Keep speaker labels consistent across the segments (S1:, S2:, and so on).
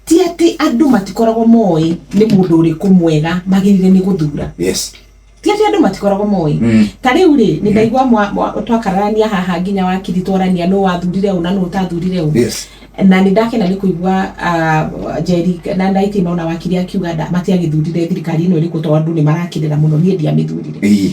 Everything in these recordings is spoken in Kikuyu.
S1: Ti atĩ andũ matikoragwo moĩ nĩ mũndũ ũrĩkũ mwega magĩrĩire nĩ gũthura. Yes. Ti atĩ
S2: andũ matikoragwo
S1: moĩ. Mm. Ta rĩu rĩ, nĩ ndaigua mwa- mwa- twakararania haha nginya wakiri twarania nũ wathurire ũ na nũ ũtathurire ũ. Yes. na nĩ ndakena
S2: nĩ
S1: kũigua ah, njeri na ndaitĩ no na wakiri akiuga nda- matiagĩthurire thirikari ĩno ĩrĩkũ tondũ andũ nĩ marakĩrĩra mũno niĩ ndiamĩthurire Ii.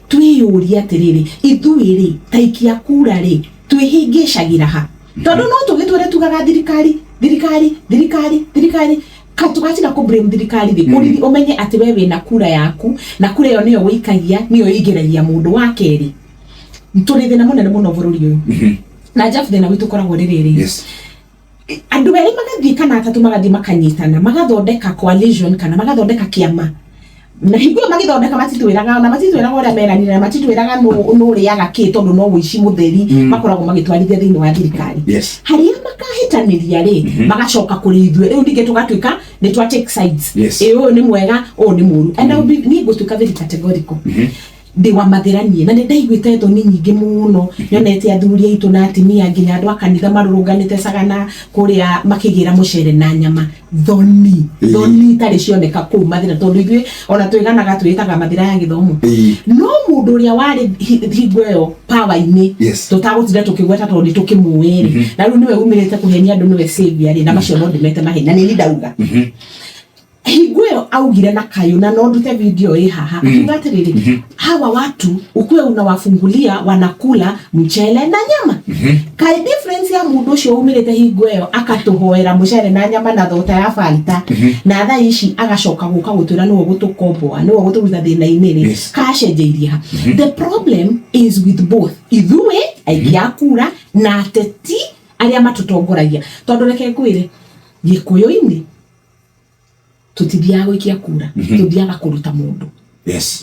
S1: Twĩyũrie atĩrĩrĩ, 'Ithuĩ-rĩ, taikia kura-rĩ, twĩhĩngĩcagĩra ha? Tondũ no tũgĩtũũre tugaga thirikari, thirikari, thirikari, thirikari. Kaĩ tũgatiga kũ blame thirikari-rĩ, ũriri ũmenye atĩ wee wĩna kura yaku, na kura ĩyo nĩyo ũikagia, nĩyo ĩingĩragia mũndũ. Wa kerĩ, tũrĩ thĩna mũnene mũno bũrũri ũyũ. Na Jeff thĩna witũ ũkoragwo ũrĩ rĩrĩ, Andũ erĩ magathiĩ kana atatũ magathiĩ makanyitana, magathondeka coalition kana magathondeka kĩama, na hingo ĩyo magĩthondeka matitwĩraga, ona matitwĩraga ũrĩa meranĩire, na matitwĩraga nũ nũ ũrĩaga kĩ tondũ no ũici mũtheri makoragwo magĩtwarithia thĩinĩ wa thirikari. Yes. Harĩa makahĩtanĩria rĩ, magacoka kũrĩ ithuĩ, rĩu ningĩ tũgatuĩka nĩ twa take sides. Yes. Ĩ ũyũ nĩ mwega, ũyũ nĩ mũũru. And I will be, niĩ ngũtuĩka very categorical. Ndĩ wa mathĩra niĩ, na nĩndaiguĩte thoni nyingĩ mũno nyonete athuri aitũ na atimia nginya andũ a kanitha marũrũnganĩte Sagana kũrĩa makĩgĩra mũcere na nyama. Thoni, thoni itarĩ cioneka kũu mathĩra tondũ ithuĩ ona twĩganaga twĩĩtaga mathĩra ya gĩthomo. No mũndũ ũrĩa warĩ hingo ĩyo power-inĩ tũtagũtinda tũkĩgweta tondũ nĩtũkĩmũĩ rĩ, na rĩu nĩwe umĩrĩte kũhenia andũ nĩwe saviour rĩ, na macio no ndĩmete maheni, na nĩ niĩ ndauga. hingo ĩyo augire na kayũ na no ndute video ĩ haha Mhm. akiuga atĩrĩrĩ Mhm. hawa watu ukue unawafungulia wanakula mchele na nyama Mhm. kaĩ difference ya mũndũ ũcio umĩrĩte hingo ĩyo akatũhoera mũcere na nyama na thota ya fanta Mhm. na thaa ici agacoka gũka gũtwĩra nĩwe gũtũkomboa nĩwe gũtũruta thĩna-inĩ rĩ Yes. kacenjeirie ha the problem is with both ithuĩ aingĩ a kura na ateti arĩa matũtongoragia tondũ reke ngwĩre gĩkũyũ-inĩ tutithiaga gwikia kura mhm. tuthiaga kuruta mundu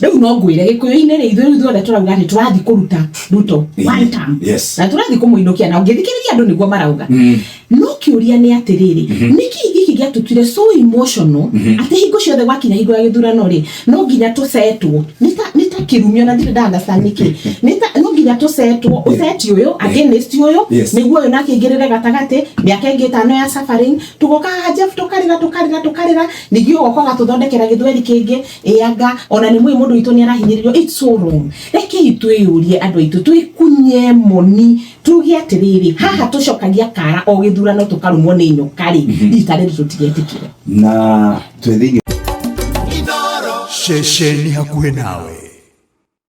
S1: riu no ngwire gikuyu-ini ri ithuĩ ithuothe tũrauga atĩ tũrathiĩ kũruta ruto mhm. one term na tũrathiĩ kũmũinũkia na ũngĩthikĩrĩria andũ nĩguo marauga mhm. no kĩũria nĩ atĩrĩrĩ nĩkĩ gĩkĩ gĩatũtuire so emotional atĩ hingo ciothe gwakinya hingo ya gĩthurano rĩ no nginya tũcetwo nĩ ta kĩrumio na ndirĩ ndandaca nĩkĩ no nginya tũcetwo ũceti ũyũ against ũyũ nĩguo ũyũ nake aingĩrĩre gatagatĩ mĩaka ĩngĩ ĩtano ya suffering tugoka haha Jeff tukarira tukarira tukarira ningĩ ũgoka ũgatũthondekera gĩthweri kĩngĩ ĩanga ona nĩ mwĩ mũndũ witũ nĩ arahinyĩrĩrio it's so wrong rekei twĩyũrie andũ aitũ twĩkunye moni tuge atĩrĩrĩ haha tũcokagia kara o gĩthurano tũkarumwo nĩ nyoka rĩ rita rĩrĩ tũtigetĩkĩre na
S3: twĩ
S2: thĩinĩ ceceni
S3: hakuhĩ nawe